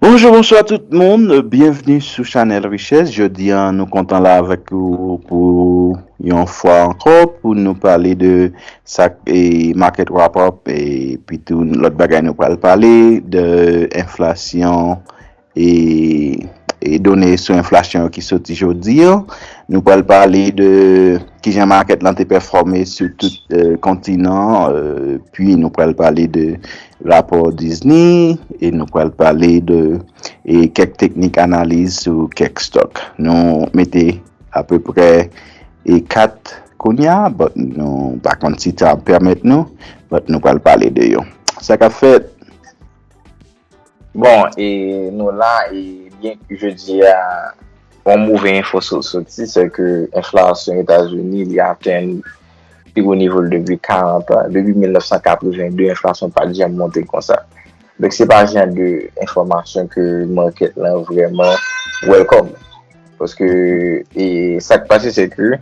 Bonjou bonswa tout moun, byenvni sou chanèl richès, jodi an nou kontan la avèk ou pou yon fwa ankò pou nou pale de sak e market wrap up e pi tou lòt bagay nou pral pale de enflasyon e e done sou enflasyon yo ki soti jodi an, nou pral pale de kijan market lan te pèfòme sou tout kontinan e pi nou pral pale de Rapò Disney e nou pral pale de e kèk teknik analiz sou kèk stock. Nou mete apeprè e 4 kounya but nou pa konn si tan ap pèmèt nou but nou pral pale de yo. Sa kap fèt? Bon e nou la e byen ke jodia yon move enfo sot soti se ke enflasyon Etazini li atenn pi wo nivo l depi 40 an. Depi 1982 enflasyon pat janm monte konsa. Donk se pa jan de enfòmasyon ke market lan vrèman welcome. Paske sa k pase se ke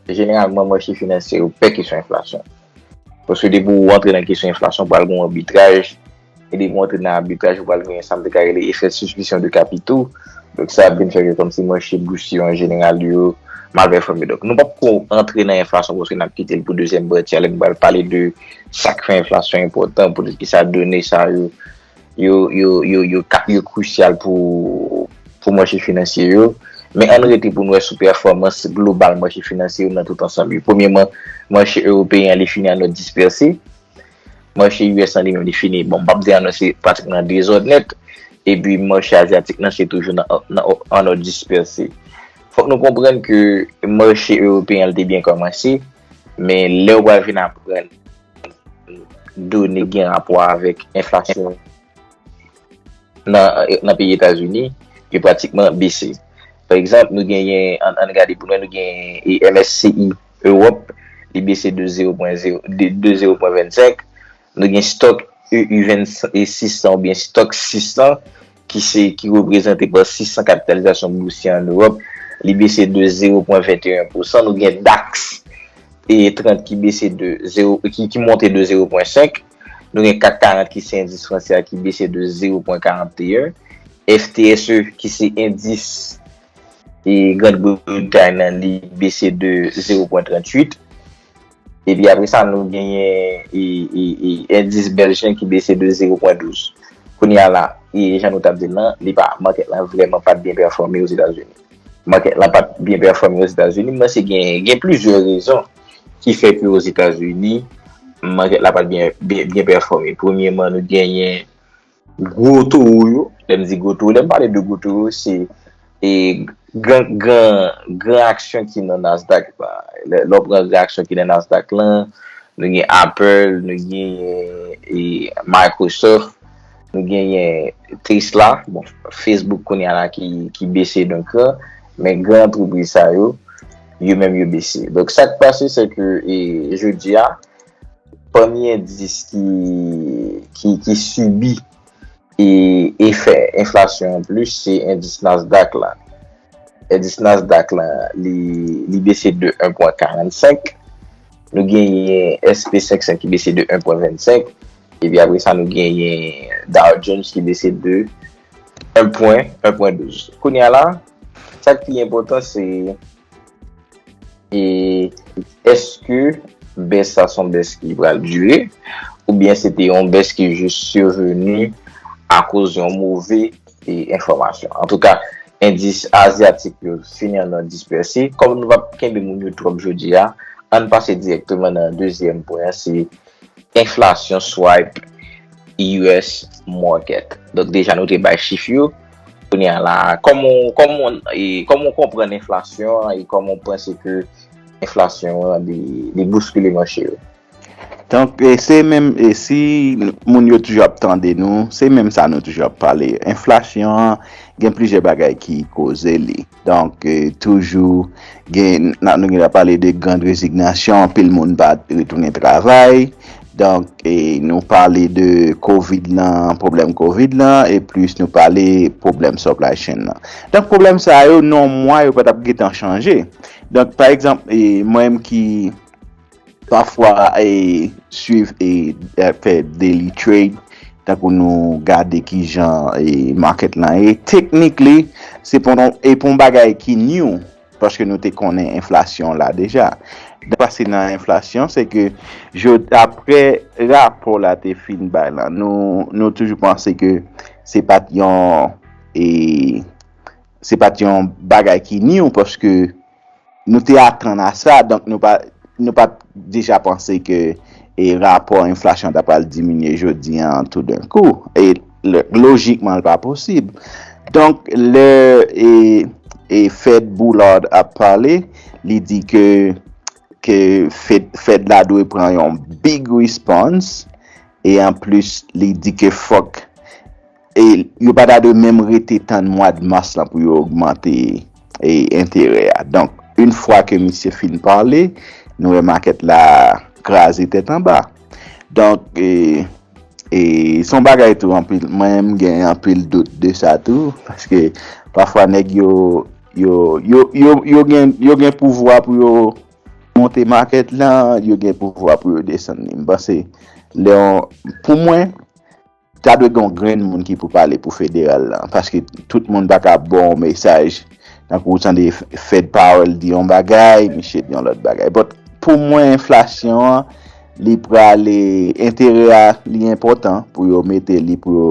jeneralman mache finansye yo pè kesyon enflasyon. Paske depi w rantre nan kesyon enflasyon pral gen yon arbitraj. e li montre nan abitraj ou pral gen sa m te ka rele efè suspisyon de kapito, donk sa ap vin fè ke kòmsi mache bous yo an jeneral yo mal pèfòme. Donk nou pap ko antre nan enflasyon paske n ap kite l pou dezyèm pati a lè nou pral pale de sa k fè enflasyon enpòtan, poutèt ki sa done sa yo yo krisyal pou mache finansye yo. Men ann rete pou n wè sou pèfòmans global mache finansye yo nan tout ansanm yo. Premyeman, mache ewopeyen an li fini an nòt dispèse, Mache US lan li menm li fini, bon m pap di an non se pratikman nan dezòd nèt, epi mache azyatik lan se toujou nan an òd dispèse. Fòk nou konprann ke mache ewopeyen an li te byen kòmanse, men lè ou pral vin aprann done ki gen rapò avèk enflasyon nan peyi Etazini, li pratikman bese. Pa egzanp, nou genyen, an n gade pou nou wè, nou genyen MSCI. Ewòp, li bese de zero pwen zero de de zero pwen vennsenk. Nou gen stock EU venn e 600 ou byen stock 600 ki se ki reprezante pa 600 kapitalizasyon bousye an Ewòp, li bese de zero pwen vent e en pousan. Nou gen dax e 30 ki bese de zero ki ki monte de zero pwen senk. Nou gen CAC 40 ki se endis franse a ki bese de zero pwen karante e en. FTSE ki se endis e Grand Britay nan li bese de 0.38 epi apre sa nou genyen endis Belge lan ki bese de 0.12 kounye a la e jan nou tap di lan li pa market lan vreman pat byen pèfòme o Zetazini market lan pat byen pèfòme o Zetazini m panse gen plizyè rezon ki fè ke o Zetazini market la pat byen pèfòme premyeman nou genyen Gwo towo yo, lè m di gwo towo, lè m pale de gwo towo se gran aksyon ki nan Nasdaq la. Lè w pran gran aksyon ki nan Nasdaq la, nou gen Apple, nou gen Microsoft, nou gen Tesla, bon Facebook kounye a la ki bese yon kran, men gran antrepriz sa yo, yo menm yo bese. Donk sa k pase se ke jodi a, pami endis ki sibi efè enflasyon an plis se endis Nasdaq la. Endis Nasdaq la li bese de 1 pwen 45, nou genyen SP 500 ki bese de 1 pwen 25, epi apre sa nou genyen Dow Jones ki bese de 1 pwen 12. Kounye a la, sa k pi enpòtan se. E eske bès sa son bès ki pral dure ou byen se te yon bès ki jis survenu a koz yon move e enfomasyon. An tou ka, endis Aziatik yo fini an nan dispèse. Kom nou pap kenbe moun yo twop jodi a, ann pase direkteman nan dezyèm pwen an se. Enflasyon swipe us market. Donk deja nou te bay chif yo. Kounye a la a, kòman ou konprann enflasyon an e kòman ou panse ke enflasyon an li bouskile mache yo? Donk se menm e si moun yo toujou ap tande nou, se menm sa nou toujou ap pale. Enflasyon an gen plizyè bagay ki koze li. Donk toujou gen nan nou gen dwa pale de grand rezignasyon anpil moun pa retounen travay donk nou pale de covid lan pwoblèm covid lan e plis nou pale pwoblèm supply chain lan donk pwoblèm sa yo nan mwa yo pa t ap gen tan chanje donk pa egzanp mwen menm ki Pafwa e swiv e fè daily trade tankou nou gade kijan e market lan ye technically se pou nou e pou yon bagay ki new paske nou te konnen enflasyon la deja. Pase nan enflasyon se ke jo aprè rapò la te fin bay lan nou nou toujou panse ke se pat yon e se pat yon bagay ki new paske Nou te atann a sa, donk nou pa t deja panse ke rapò enflasyon ta pral diminye jodi a an toudenkou. E lojikman l pa posib. Donk lè Fed Boulard ap pale, li di ke Fed la dwe pran yon big response e anplis li di ke fòk E yo pa ta dwe menm rete tann mwad mas lan pou yo ogmante e enterè a. Donk, yn fwa ke misye fin pale, nou wè makèt la kraze tèt anba. Donk, e, e se yon bagay tou anpil, mwen menm gen anpil dout de sa tou, paske pafwa nèg yo, yo, yo, yo, yo gen, yo gen pouvwa pou yo monte makèt lan, yo gen pouvwa pou yo desann li. M panse lè yon, pou mwen. Ta dwe gen yon grenn moun ki pou pale pou federal lan paske tout moun pa ka ba w yon mesaj tankou ou tande Fed Powell di yon bagay misye di yon lòt bagay but pou mwen enflasyon an li prale enterè a li enpòtan pou yo mete li pou yo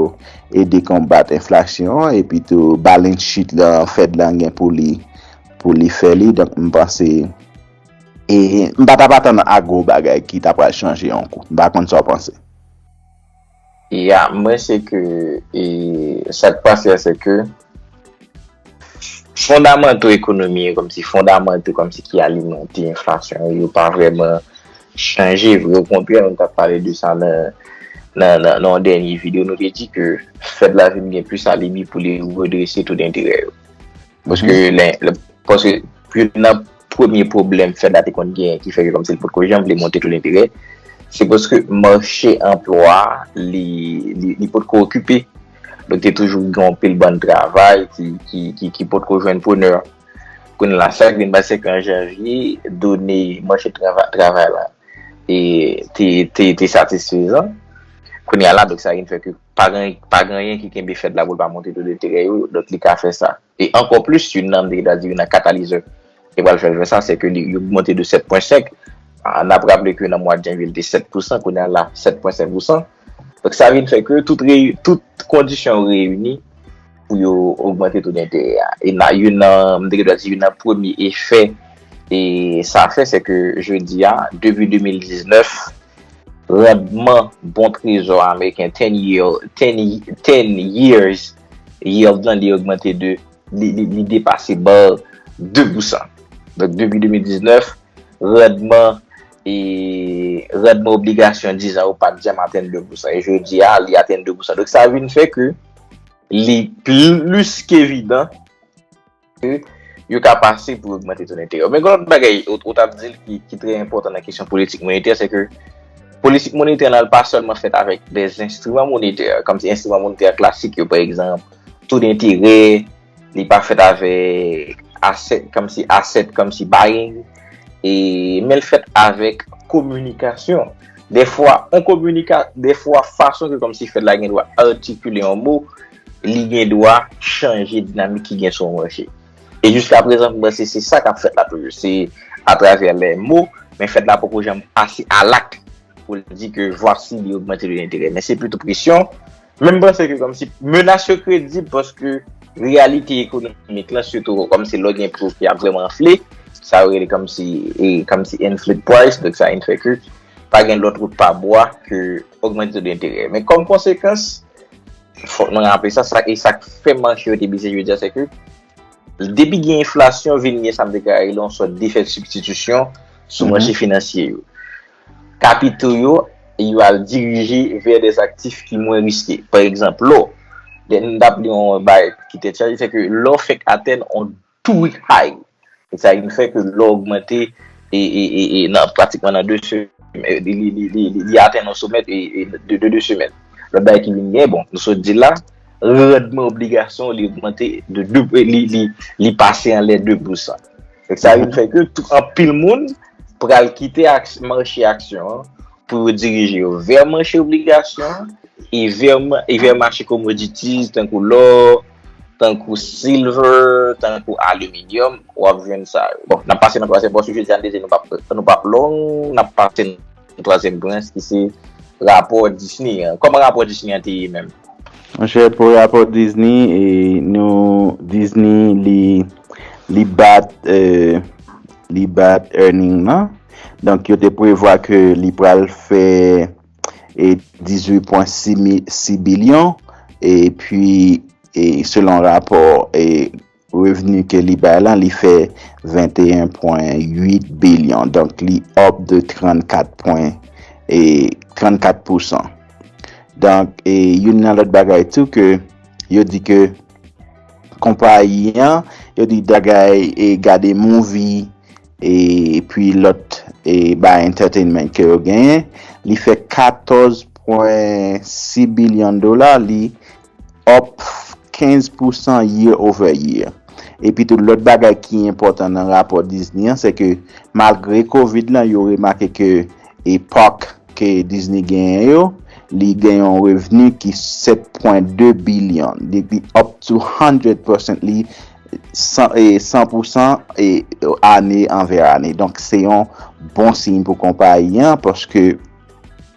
ede konbat enflasyon an epi tou balance sheet lan Fed lan gen pou li pou li fè li donk m panse e m pa t ap atann a gwo bagay ki ta pral chanje yon kou m pa konn sa w panse. Ya mwen se ke e sak pase a se ke fondamanto ekonomi yo komsi fondamanto komsi ki alimante enflasyon yo yo pa vreman chanje vre okontrè nou tap pale de sa nan nan nan yon dènye video nou te di ke fed la vin gen plis alibi pou li redrese to denterè yo Paske lè, paske yon nan premye pwoblèm FEDA te konn gen ki fè ke kòmsi l pot ko janm vle monte to denterè, se paske mache anplwa li, li pot ko okipe. Donk te toujou gen yon pil bann travay ki, ki, ki, ki pot ko jwenn prenè. Kounye la, sa k vin pase se ke an janvye, done mache travay, travay la e te, te, te satisfezan. Kounye a la, donk sa vin fè ke. Pa gen anyen ki kenbe Fed la pou l pa monte to deterè yo, donk li ka fè sa. E ankò plis, youn nan, m te gen tan di, youn nan katalizè ki pral fè l fè sa, se ke li ogmante de 7 pwen 5. N ap raple ke nan mwad janvye li te 7 pousan, kounye a la 7 pwen 5 pousan. Donk sa vin fè ke tout kondisyon yo reyini pou yo ogmante to denterè a. E nan youn nan, m te gen dwa di youn nan premye efè e sa fè se ke jodi a, depi 2019, randman bon trezò ameriken, ten yield, ten years yield lan li ogmante de, li depase bar 2 pousan. Donk depi 2019, randman e randman obligasyon 10 an yo pa t janm atenn 2 pousan. E jodi a, li atenn 2 pousan. Donk sa vin fè ke. li plis ke evidan ke yo ka pase pou ogmante ton enterè. Men gen lòt bagay ou tap di ki trè enpòtan nan kesyon politik monetè, se ke politik monetè la pa sèlman fèt avèk de enstriman monetè, kòm se enstriman monetè klasik yo, pa egzanp, to denterè, Li pa fèt avèk asset, kòm si asset, kòm si buying. E men l fèt avèk kominikasyon. De fwa, on kominika, de fwa fason ke kòm si fèt la gen dwa artikile yon mo, li gen dwa chanje dinamik ki gen sou yon mwache. E jiska prezan m panse se sa k ap fèt la toujou. Se atravè lè mo, men fèt la poko janm pase a lakt pou l di ke vwasi li ogmante de lenterè. Men se pito presyon, Men m panse ke komsi menas yo kredib paske reyalite ekonomik lan sitou komsi lè gen pri ki ap vreman anfle, sa yo rele komsi e komsi enflate price, donk sa enfè ke pa gen lòt wout pa bwa ke ogmante to denterè. Men kom konsekans, fòk nou raple sa, sa e sak fè manche yo te bese jodi a se ke depi gen enflasyon vin gen sa m deklare la yon sòt defèt sibstitisyon sou manche finansye yo. Kapito yo yo al dirije vè dè aktif ki mwen riske. Pa egzanp, lò. Lè n ap li yon bagay ki tèt chaje, se ke lò fèk atenn yon tou hay. E sa vin fè ke lò ogmante e nan pratikman nan 2 se li atenn yon somè de 2 semèn. Lòt bagay ki vin gen, bon, nou sot di la, randman obligasyon li ogmante de 2 li pase anlè de pousan. Donk sa vin fè ke anpil moun pral kite manche aksyon an pou yo dirije yo vè manche obligasyon an e vè manche komoditiz tankou lò, tankou silver, tankou aliminyòm, wap jwenn sa yo. Bon, nap pase nan twazyèm pòsyon, jodi a nou te di nou pap long, nap pase nan. Yon twazyèm branch ki se rapò Disney an. Kòman rapò Disney an te ye menm? Monchè, pou rapò Disney, nou Disney li li bat li bat earning nan. Donk yo te prevwa ke li pral fè 18.6 bilyon e pi selon rapò Revni ke li bay lan li fè 21 pwen 8 bilyon donk li up de 34 pwen 34 pousan donk e youn nan lòt bagay tou ke yo di ke konpayi an yo di bagay e gade mouvi e pi lòt e bay entertainment ke yo genyen li fè 14 pwen 6 bilyon dola li up 15 pousan year over year. Epitou lòt bagay ki enpòtan nan rapò Disney an se ke malgre covid lan yo remake ke e park ke Disney genyen yo li gen yon revni ki 7 pwen 2 billion li up 200 percent li 100 pousan ane anvè ane donk se yon bon siy pou konpayi an paske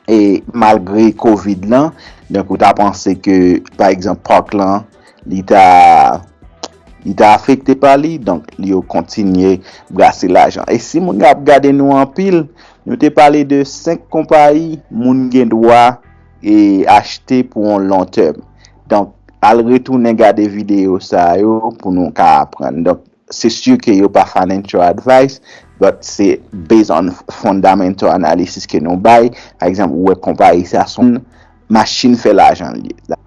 E malgre covid lan, donk ou ta panse ke pa egzanp park lan li ta li ta afekte pa li, donk li yo kontinye brase lajan. E si moun yo ap gade nou anpil, nou te pale de 5 konpayi moun gen dwa e achte pou yon long term. Donk al retounen gade video sa yo pou nou ka aprann. Donk Se sûr ke yo pa financial advice, but se based on fundamental analysis ke nou bay, pa egzanp ou wè konpayi sa son machin fè lajan l ye.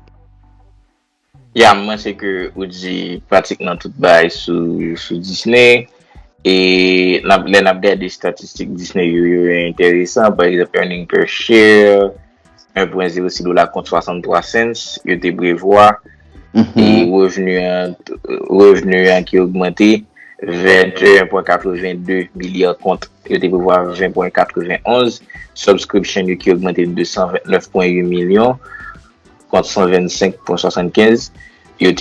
Yam, mwen se ke ou di pratikman tout bagay sou Disney, e lè nap gade statistik Disney yo, yo enteresan, pa egzanp earning per share, 1.06 dola kont 63 cents yo te prevwa e revenu an ki ogmante 21.82 milya kont yo te prevwa 20.91, subscription yo ki ogmante 229.8 milyon kont 125.75 yo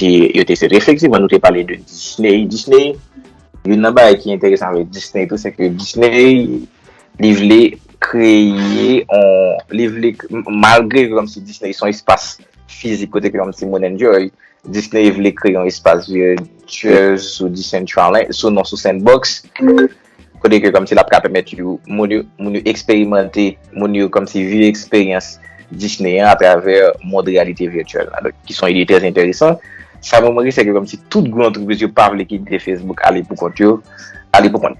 te sèt. Efektivman nou te pale de Disney, Disney, youn nan bagay ki enteresan avèk Disney tou se ke Disney. Li vle kreye on, li vle, malgre kòm si Disney son espas fizik kote ke yon timoun enjoy, Disney vle kreye yon espas virtuel sou Decentraland, sou non sou Sandbox, kote ke kòm si lap ka pèmèt yo, moun yo, moun yo eksperimante, moun yo kòm si viv eksperyans Disney an atravè mond reyalite virtuel la. Donk, ki son ide trè enteresan. Sa mwen remake se ke kòm si tout gwo antrepriz yo pa vle kite Facebook ale pou kont yo, ale pou kont.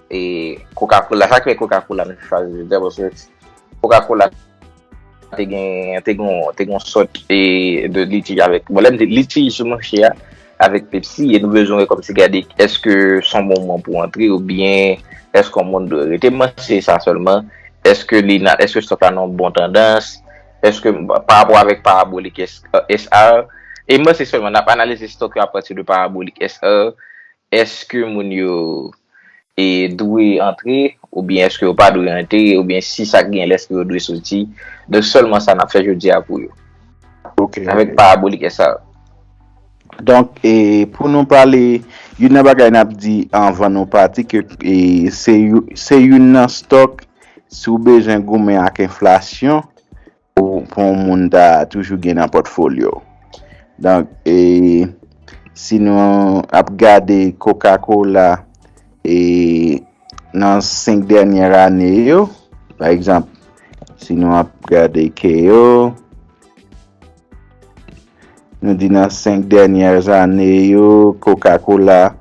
E koka kola, sa ki fè koka kola mwen te chwazi je dè, paske koka kola te gen, te gen, te gen yon sòt e de litij avèk, bon lè m di litij sou mouche a, avèk pepsi, e nou bezwen kòm si gade eske son bon moman pou antre ou byen eske yon moun dwe rete, mwen se sa sèlman, eske li nan, eske sòt la nan yon bon tandans, eske pa rapò avèk parabolik SR, e mwen se sèlman, n ap analize sòt yo apati de parabolik SR, Eske moun yo dwe antre oubyen eske yo pa dwe antre oubyen si sa gen lèske yo dwe soti. Donk sèlman sa n ap fè jodi a pou yo. Avèk parabolik esa yo. Donk e pou nou pale youn nan bagay n ap di anvan nou pati ke e se youn nan stòk si w bezwen goumen ak enflasyon pou yon moun ta toujou gen nan pòtfolyo w. Donk, e si nou ap gade Coca Cola e nan 5 dènyè ane yo, pa egzanp, si nou ap gade Keo. Nou di nan 5 dènyè ane yo, Coca-Cola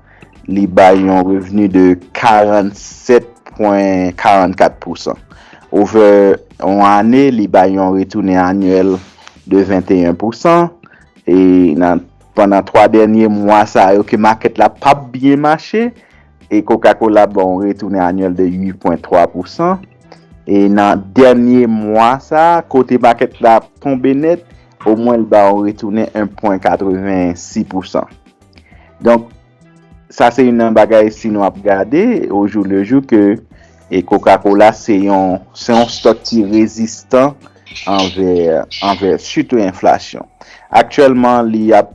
li bay yon revni de 47,44 pousan. Ovè yon ane, li bay yon retounen anyèl de 21 pousan. E nan pandan 3 dènyè mwa sa yo ke makèt la pa byen mache, e Coca-Cola ban yon retounen anyèl de 8,3 pousan. E nan dènyè mwa sa, kote makèt la tonbe nèt, Omwen l ba ou retounen 1,86 pousan. Donk, sa se youn nan bagay si nou ap gade ojou le jou ke e koka kola se yon se yon stòk ki rezistan anvè anvè sitou enflasyon. Aktyèlman li ap.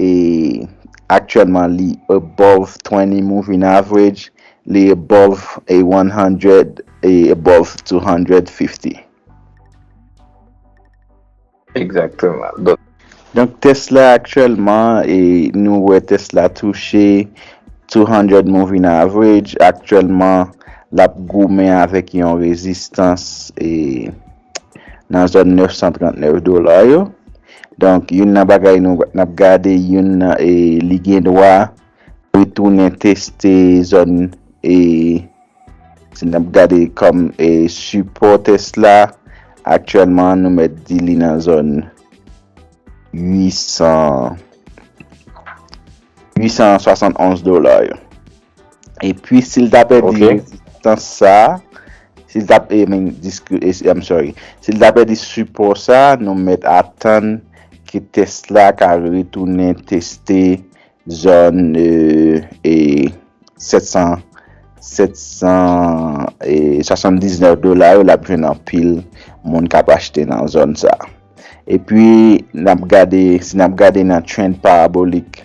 E aktyèlman li above twenty moving average, li above a one hundred e above two hundred fifty. Ekzakteman. Donk. Donk Tesla aktyèlman e nou wè Tesla touche two hundred moving average aktyèlman lap goumen avèk yon rezistans e nan zòn 939 dola yo. Donk youn nan bagay nou n ap gade youn nan e li gen dwa retounen teste zòn e si n ap gade kòm e sipò tès la aktyèlman nou mèt di li nan zòn 871 dola yo. E pi si l ta pèdi rezistans sa, si l ta pèdi sipò sa, nou mèt atann ke tès la ka retounen teste zòn 779 dola yo l ap jwenn anpil moun k ap achte nan zòn sa. E pi si n ap gade nan trend parabolik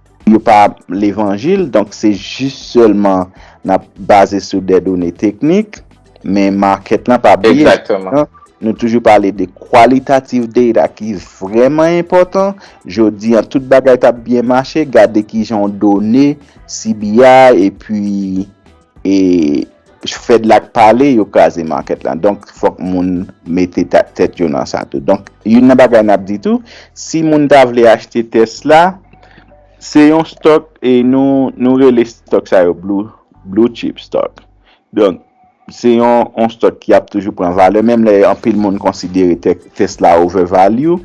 Yo pa levanjil, donk se jis sèlman n ap baze sou dè done teknik, men market lan pa bliye. Exactement. Nou toujou pale de qualitative data ki vrèman enpòtan, jodi an tout bagay t ap byen mache, gade kijan w done CBI epi. e Fed la k pale yo kraze market la donk fok moun mete tet yo nan sa tou donk youn nan bagay nap di tou si moun ta vle achte Tesla se yon stock e nou rele stock sa yo blue chip stock donk se yon stock ki ap toujou pran valè menm lè anpil moun konsidere Tesla over value.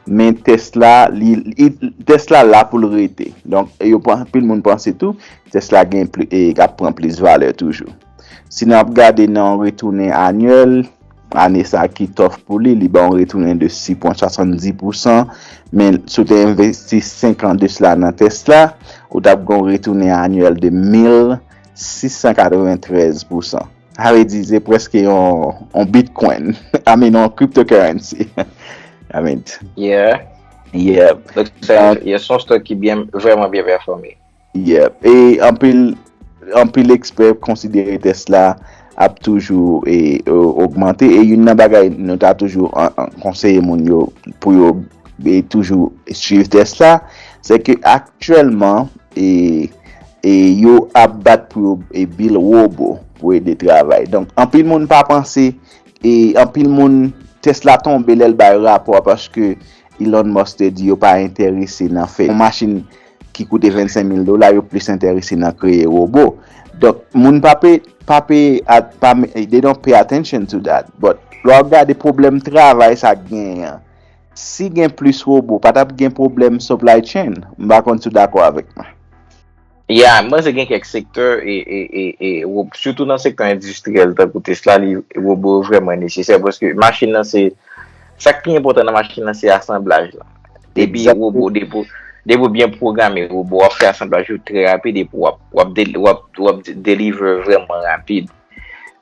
Men tès la, li, li, tès la la pou l rete. Donk, e yo panse, anpil moun panse tou, tès la gen pli, e ap pran plis valè toujou. Si nap gade nan yon retounen anyèl, ane sa ki tòf pou li, li ban yon retounen de 6,70 pou san, men si w te envesti 5 an de sila nan tès la, ou tap gen yon retounen anyèl de 1,693 pou san. Sa vle di se preske yon bitcoin. I mean yon cryptocurrency. I mean. Yeah. Yeah. Yon son stock ki byen, vreman byen performe. Yeah. E anpil, anpil ekspè konsidere Tesla ap toujou e augmente. E yon nan bagay nou ta toujou konseye moun yo pou yo toujou suiv Tesla. Se ke aktuelman e... E yo ap bat pou yo e bil robo pou ede travay. Donk anpil moun pa panse e anpil moun tès la tonbe lèl bay rapò a paske Elon Musk te di yo pa enterese nan fè yon machin ki koute 25 mil dola yo plis enterese nan kreye robo. Donk moun pa pay pa pay pa they don't pay attention to that but lè wap gade pwoblèm travay sa genyen an Si gen plis robo pa tap gen pwoblèm supply chain? M pa konn si w dakò avèk mwen. Yeah, m panse gen kèk sektè e rob sitou nan sektè endistriyèl tankou Tesla li robo yo vrèman nesesè paske machin nan se sak pi enpòtan nan machin nan se asanblaj la. Depi robo depi ou byen pwograme robo wap fè asanblaj yo trè rapid epi wap wap deliver vrèman rapid.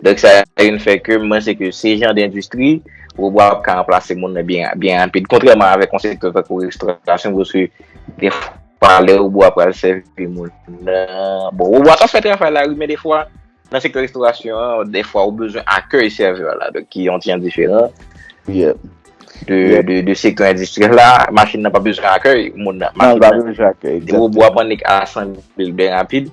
Donk sa vin fè ke mwen se ke se jan d'endistri robot ap ka ranplase moun nan byen byen rapid. Kontrèman avèk yon sektè tankou restaurasyon paske gen fwa lè robot a pral sèvi moun nan, bon robot a ka fè travay la wi men de fwa nan sektè restaurasyon an de fwa ou bezwen akèy sèvè la donk ki yon ti jan diferan de sektè endistriyèl la, machin nan pa bezwen akèy moun nan, machin nan, robot ap annik asanble byen rapid.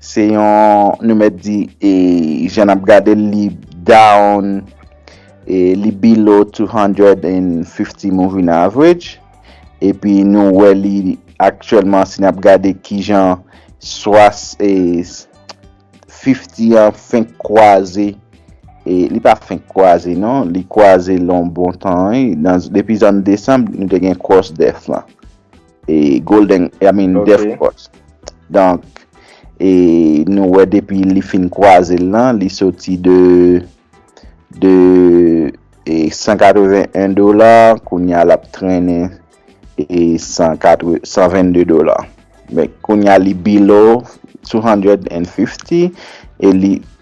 Se yon nou mèt di e jan nap gade l li down e li below 250 moving average epi nou wè li aktyèlman si nap gade kijan swas e 50 an fenk kwaze e li pa fenk kwaze non li kwaze l yon bon tan wi depi zòn desanm nou te gen cross death lan. e Golden I mean Death Cross Donk e nou wè depi li fin kwaze l lan li soti de de e 181 dola kounya l ap trennen e 122 dola men kounya li below 250 e li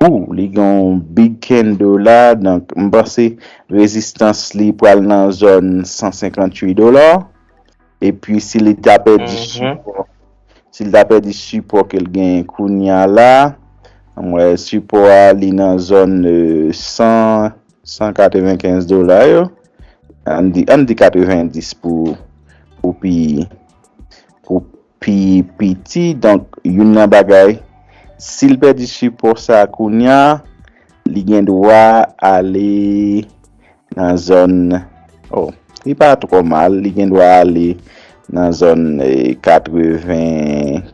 Ooh li gen yon big candle la donk m panse rezistans li pral nan zòn 158 dola epi si li ta pèdi sipò si li ta pèdi sipò ke l genyen kounya la m wè sipò a li nan zòn 100 195 dola yo an n di an n di 90 pou pou pi pou pi piti donk youn nan bagay sil pèdi sipò sa kounya li gen dwa ale nan zòn o li pa trò mal li gen dwa ale nan zòn 80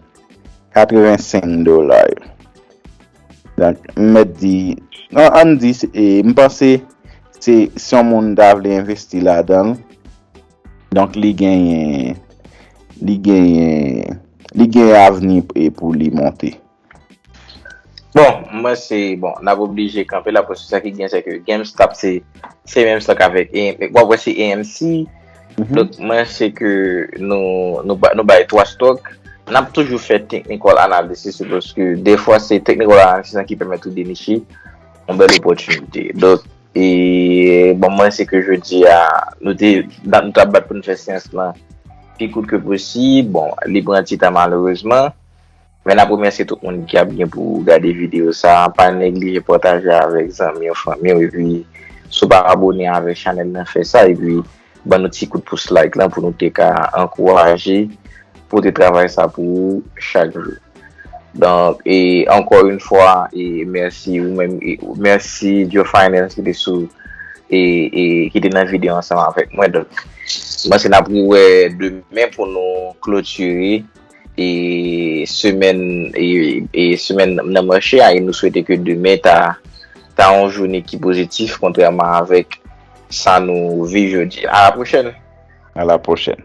85 dola yo donk m mèt di nan an di m panse se si yon moun ta vle envesti ladan l. Donk li genyen li genyen li genyen avni pou li monte. Bon, m panse bon n ap oblije kanpe la paske sa ki genyen se ke Gamestop se se menm stock avèk AMC, w ap wè se AMC donk m panse ke nou nou bay 3 stock n ap toujou fè technical analysis yo paske defwa se technical analysis lan ki pèmèt ou deniche yon bèl opòtinite. E bon mwen se ke jodi a, nou te, dat nou tap bat pou nou fè seyans lan, pi kout ke posib, bon, li pran ti tan malerezman, men nap remèsye tout moun ki ap gen pou gade videyo sa, pa neglije pataje avèk zanmiw, fanmiw, epi si w pa abone avèk chanèl nan fè sa, epi. Ban nou ti kout pous like lan pou nou te ka ankouraje pote travay sa pou ou chak jou. Donk e ankò yon fwa e mèsi ou menm e mèsi Djo Finance ki te sou e e ki te nan videyo ansanm avèk mwen. Donk mwen se nap re wè demen pou nou klotire e semèn e e semèn nan mache a e nou swete ke demen ta ta yon joune ki pozitif kontrèman avèk Sa nou viv jodi a. A la pwochèn. A la pwochèn.